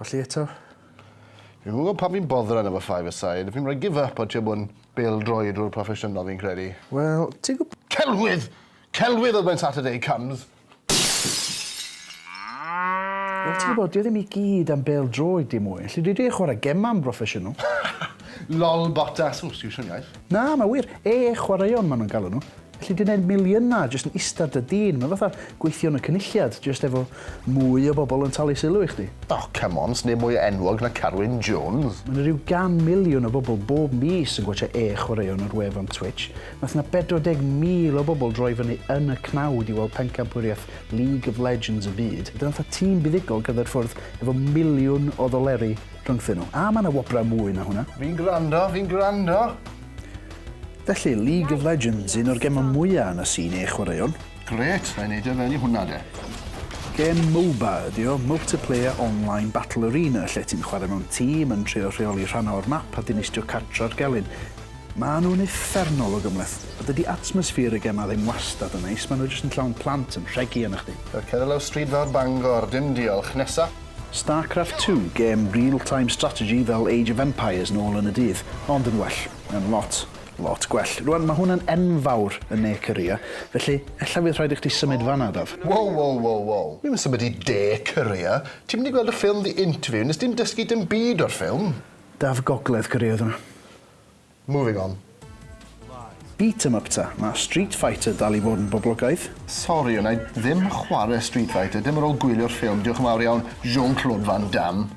Colli eto? Fi'n gwybod pan fi'n boddra yn efo five aside, fi'n rhoi give up o ti'n bod yn bel droi drwy'r proffesiynol fi'n credu. Wel, ti'n gwybod... Celwydd! Celwydd oedd mae'n Saturday comes! Wel ti'n gwybod, dyw e ddim i gyd am bêl-droed dim mwy. Felly dwi 'di chwarae gemau yn broffesiynol. Lol Bottas. Ww, stiwsio'n iaith. Na, mae wir. Ee chwaraeon maen nhw'n galw nhw. Felly dwi'n gwneud miliynau jyst yn ista ar dy dîn. Mae fatha gweithio yn y Cynulliad, jyst efo mwy o bobl yn talu sylw i chdi. O, come on, sdim mwy enwog na Carwyn Jones. Mae 'na rhyw gan miliwn o bobl bob mis yn gwatsiad Ee chwaraeon ar wefan Twitch. Wnaeth 'na 40,000 o bobl droi fyny yn y cnawd i weld pencampwriaeth League of Legends y byd. Dyna fatha tîm buddugol cerdded ffwrdd efo miliwn o ddoleri rhyngthyn nhw. A mae 'na wobrau mwy na hwnna. Fi'n gwrando, fi'n gwrando! Felly, League of Legends, un o'r gemau mwya' yn y scene ei chwaraewn. Grêt, rhaid neidio fewn i hwnna de. Gêm Moba ydi o, Multiplayer Online Battle Arena, lle ti'n chwarae mewn tîm, yn trio rheoli rhannau o'r map a dinistrio cartre'r gelyn. Maen nhw'n uffernol o gymhleth. A dydy atmosffer y gemau ddim wastad yn neis, maen nhw jyst yn llawn plant yn rhegi arnoch chdi. Reit, cer i lawr stryd fawr Bangor, dim diolch. Nesa. Starcraft Two, gêm real time strategy fel Age of Empires nôl yn y dydd, ond yn well. Yn lot, lot gwell. Rwan, mae hwn yn enfawr yn ne Korea, felly ella fydd rhaid i chdi symud fan 'na, Daf. Wow, wow, wow, wow. Dwi'm yn symud i de Korea. Ti'm wedi gweld y ffilm The Interview, nes di'm dysgu dim byd o'r ffilm. Daf, Gogledd Korea oedd hwnna. Moving on. Beat 'em up ta, ma Street Fighter dal i fod yn boblogaidd. Sori wna i ddim chwarae Street Fighter, dim ar ôl gwylio'r ffilm, diolch yn fawr iawn Jean-Claude Van Damme.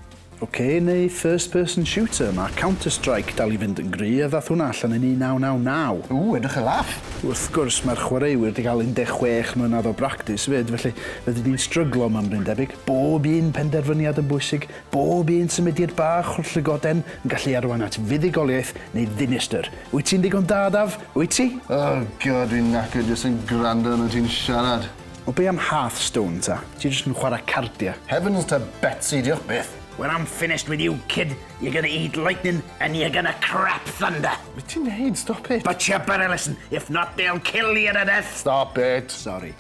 Ok neu first person shooter, ma Counter Strike dal i fynd yn gry a ddath hwnna allan yn 1999. Ooh, edrych yn laff! Wrth gwrs, mae'r chwaraewyr 'di cael 16 mlynedd o bractis 'fyd, felly rydyn ni'n stryglo am ymryn debyg. Bob un penderfyniad yn bwysig, Bob un symudiad bach o'r llygoden yn gallu arwain at fuddugoliaeth neu ddinistr. Wyt ti'n ddigon da, Daf? Wyt ti? Oh God, dwi'n knackered jyst yn gwrando arnot ti'n siarad. O be am Hearthstone ta? Ti jyst yn chwarae cardia. Heavens ta Betsi, diolch byth. When I'm finished with you, kid, you're gonna eat lightning and you're gonna crap thunder. Be ti'n neud? Stop it. Butcher Burleson, if not they'll kill you to death. Stop it. Sori.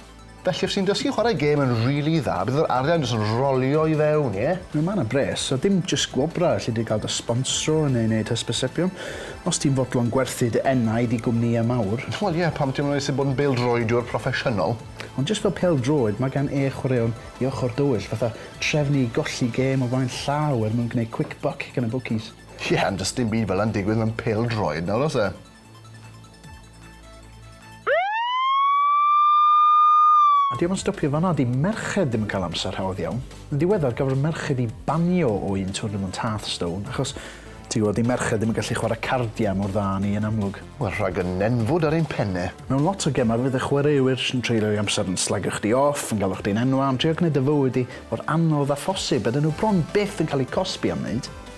Felly os ti'n dysgu chwarae gêm yn rili dda bydd yr arian jyst yn rolio i fewn, ie? Mae yna bres, a dim jyst gwobrau alli di gael dy sbonsro neu wneud hysbysebion. Os ti'n fodlon gwerthu dy enaid i gwmnïau mawr. Wel ie, pam ti'm yn moesu bod yn bêl-droediwr proffesiynol? Ond jyst fel pêl-droed, mae gan e chwaraeon i ochr dywyll, fatha trefnu i golli gêm o flaen llaw er mwyn gwneud quick buck gan y bwcis. Ie, ond does dim byd fel 'na'n digwydd mewn pêl-droed nawr oes e? A dio'm yn stopio fan'na, 'di merched ddim yn cael amser hawdd iawn. Yn ddiweddar, gafodd merched i banio o un twrnamwnt Hearth Stone, achos, ti gwybod, 'di merched ddim yn gallu chwarae cardiau mor dda â ni yn amlwg. Wel, rhag y nenfwd ar ein penne. Mewn lot o gemau, fydd y chwaraewyr sy'n treulio'i amser yn slagio chdi off, yn galw chdi'n enwau, yn trio gwneud dy fywyd di mor anodd â phosib, a 'dyn nhw bron byth yn cael eu cosbi am wneud.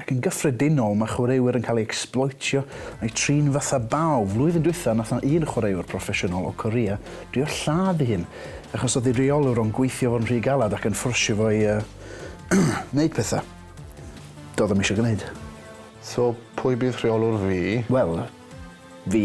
Ac yn gyffredinol mae chwaraewyr yn cael eu ecsbloetio a'u trin fatha baw. Flwyddyn dwytha nath na un chwaraewr proffesiynol o Korea drio lladd ei hun achos o'dd ei reolwr o'n gweithio fo'n rhy galad ac yn ffwrsio fo i yy neud petha do'dd o'm isio gneud. So pwy bydd rheolwr fi? Wel, fi.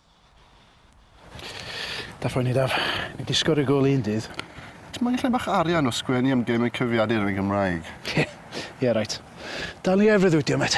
Daf rhoi ni daf. Ni di sgori gol un dydd. Ti moyn lle bach arian o sgwennu am gemau cyfiadur yn y Gymraeg? Ie, ie reit. Dal ni ar freuddwydio met.